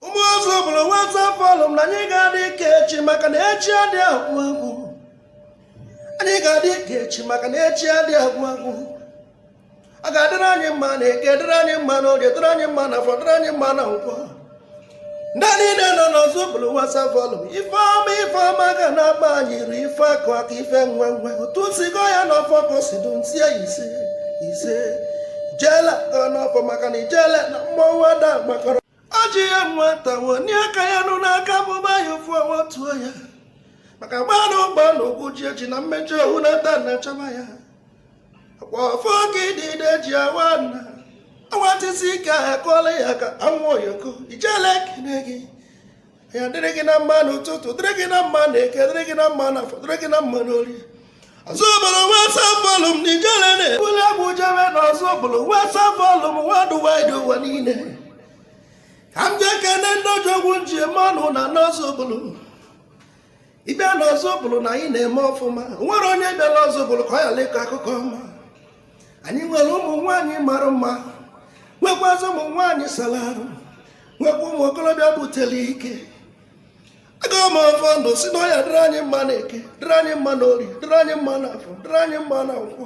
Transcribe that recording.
ụmụ Ozubulu WhatsApp forum na anyị ga-adị ka echi maka na echi adị agwụ agwụ anyị ga-adị ka echi maka na echi adị agwụ agwụ ọ ga-adịrị anyị mma na eke dịrị anyị mma na oye dịrị anyị mma na afọ dịrị anyị mma na nkwọ ndị niile nọ n'Ozubulu WhatsApp forum ife ọma ife ọma ga na-agba anyị ru ife akụ akụ ife enwe enwe otu m si gọ ya n'ọfọ ka o si du ntie ise ise ijele gọ n'ọfọ maka na ijele na mmọnwụ ada gbakọrọ ọ ji ya nwata wenie aka ya enu n'aka bụba ya ofu ọnwa tuo ya maka gbanụ gbanụ ugwu ji eji na mmejọ ohu na-ata na-achọba ya ọfọ ka idide ji awa ana awatisi ike ha kụọla ya ka anwụ oyoko ijele ekene gị ya dịrị gị na mma n'ụtụtụ dịrị gị na mma na eke dịrị gị na mma na afọ dịrị gị na mma n'ori Ozubulu WhatsApp forum n'ijele na-ebuli egwu jebe na Ozubulu WhatsApp forum worldwide ụwa niile ka m jee kene ndị odogwu m ji eme ọnụ na n'Ozubulu ibe na Ozubulu na anyị na-eme ọfụma o nwere onye bịara Ozubulu ka ọ ghara ịkọ akụkọ ọma anyị nwere ụmụ nwaanyị mara mma nwekwazị ụmụ nwaanyị sara arụ nwekwa ụmụ okorobịa butere ike agọ m ọfọ ndụ sị na ọ ya-adịrị anyị mma na eke dịrị anyị mma na ori dịrị anyị mma na afọ dịrị anyị mma na nkwọ